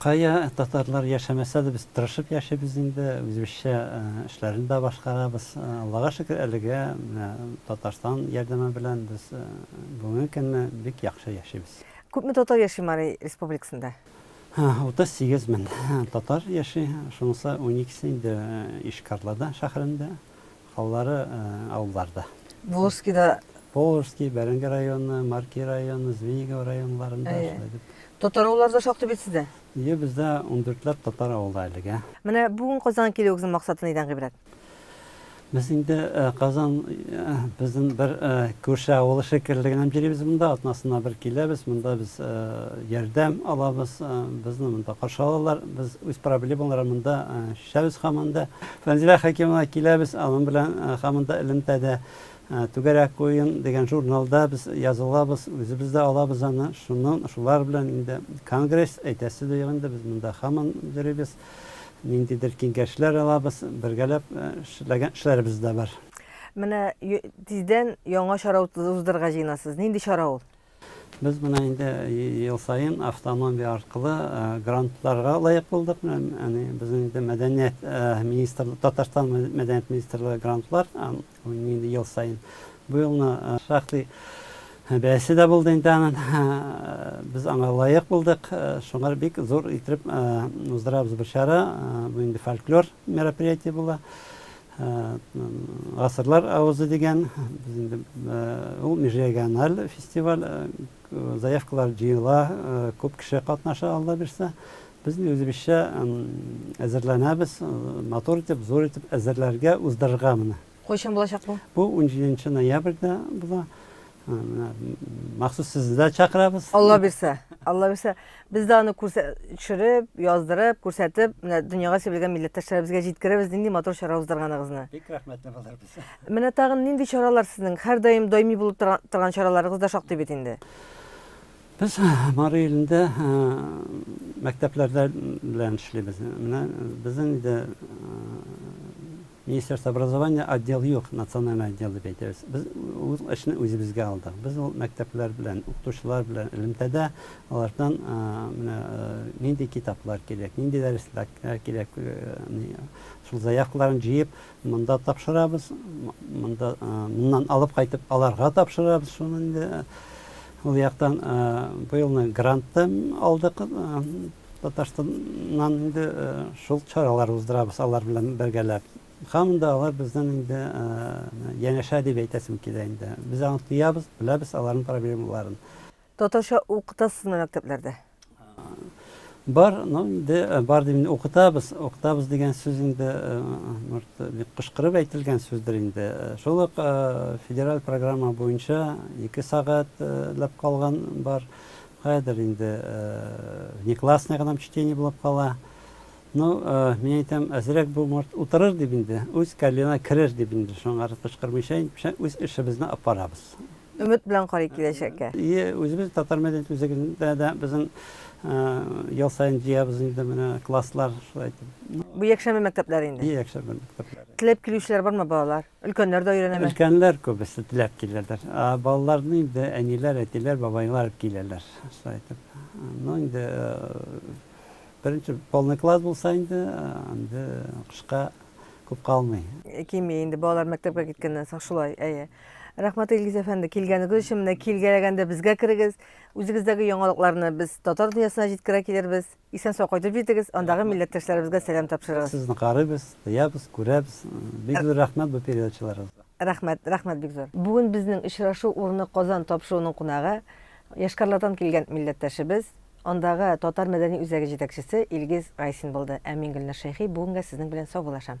Кая татарлар яшәмәсә дә без тырышып яшибез инде, үзебезчә эшләрне дә башкарабыз. Аллага шөкер, әлегә менә Татарстан ярдәме белән без бүгенге көнне бик яхшы яшибез. Күпме татар яши Мари Республикасында? 38 мең татар яши, шунысы уникесе инде Ишкарлада шәһәрендә, Алары авылларда. Волжскида. Волжский, Бәрәңге районы, Марки районы, Звенигово районнарында шулай дип. Татар авыллары да шактый бит сездә? Ие, бездә ундүртләп татар авылы әлегә. Менә бүген Казанга килүегезнең максаты нидән гыйбрәт? Без инде Казан безнең бер күрше авылы шикелле генә йөрибез монда, атнасына бер киләбез, монда без ярдәм алабыз, безне монда каршы алалар, без үз проблемаларны монда Шәбез хаманда Фәнзилә Хәкимова киләбез, аның белән хаманда элемтәдә Түгәрәк уен дигән журналда без язылабыз, үзебез дә алабыз аны. Шуннан шулар белән инде конгресс әйтәсе дә юк инде, без монда хаман йөрибез. Ниндидер киңәшләр алабыз, бергәләп эшләгән эшләребез дә бар. Менә тиздән яңа чара уздырырга җыенасыз. Нинди чара ул? Без менә инде ел саен автономия аркылы грантларга лаек булдык. Әни, безнең инде мәдәният министрлыгы, Татарстан мәдәният министрлыгы грантлар, инде ел саен. Бу елны шактый бәясе дә булды инде аның. Без аңа лаек булдык. Шуңар бик зур итеп уздырабыз бу чара. Бу инде фольклор мероприятие була. Гасырлар авызы дигән ул межрегиональ фестиваль, заявкалар җыела, күп кеше катнаша Алла бирсә. Без үзебезчә әзерләнәбез, матур итеп, зур итеп әзерләргә, уздырырга моны. Кайчан булачак бу? Бу унҗиденче ноябрьдә була. Менә махсус сезне дә чакырабыз. Алла бирсә, Алла бирсә, без дә аны төшереп, яздырып, күрсәтеп, менә дөньяга сибелгән милләттәшләребезгә җиткерәбез, нинди матур чара уздырганыгызны. Бик рәхмәтле булырбыз. Менә тагын нинди чаралар сезнең һәрдаим даими булып торган чараларыгыз да шактый бит инде. Без Мары илендә мәктәпләрдә белән эшлибез. Менә безнең инде Министерство образования отдел юк, национальный отдел дип әйтәбез. Без ул эшне үзебезгә алдык. Без ул мәктәпләр белән, укытучылар белән элемтәдә алардан менә нинди китаплар кирәк, нинди дәресләр кирәк, шул заявкаларын җыеп монда тапшырабыз, монда моннан алып кайтып аларга тапшырабыз шуны инде. Ул яктан быелны грант та алдык. Татарстаннан инде шул чаралар уздырабыз алар белән бергәләп. Һаман да алар безнең инде янәшә дип әйтәсем килә инде. Без аны тоябыз, беләбез аларның проблемаларын. Татарча укытасызмы мәктәпләрдә? Бар, ну инде бар дип укытабыз. Укытабыз дигән сүз инде бик кычкырып әйтелгән сүздер инде. Шул ук федераль программа буенча 2 сәгатьләп калган бар. Хәзер инде внеклассный гына чтение булып кала. Ну, мин әйтәм, әзрәк бу морт утырыр дип инде, үз кәллеңә керер дип инде, шуңа да кычкырмыйча, үз эшебезне алып барабыз. Өмет белән карый киләчәккә. Ие, үзебез татар мәдәният үзәгендә дә безнең ел саен җыябыз инде менә класслар шулай итеп. Бу якшәмбе мәктәпләре инде. Ие, якшәмбе мәктәпләре. Теләп килүчеләр бармы балалар? Өлкәннәр дә өйрәнәме? Өлкәннәр күбесе теләп киләләр. Ә балаларны инде әниләр, әтиләр, бабайлар алып киләләр. Шулай итеп. Ну, инде беренче полный класс булса инде, инде кышка күп калмый. Кими инде балалар мәктәпкә киткәннән соң шулай, әйе. Рәхмәт, Илгиз әфәнде, килгәнегез өчен. Менә килгәләгәндә безгә керегез. Үзегездәге яңалыкларны без татар дөньясына җиткерә килербез. Исән-сау кайтып җитегез, андагы милләттәшләребезгә сәлам тапшырыгыз. Сезне карыйбыз, тоябыз, күрәбез. Бик зур рәхмәт бу передачаларыгызга. Рәхмәт, рәхмәт бик зур. Бүген безнең очрашу урыны Казан тапшыруның кунагы, Йошкарлардан килгән милләттәшебез, андагы татар мәдәни үзәге җитәкчесе Илгиз Гайсин булды. Ә мин Гөлназ Шәйхи бүгенгә сезнең белән саубулашам.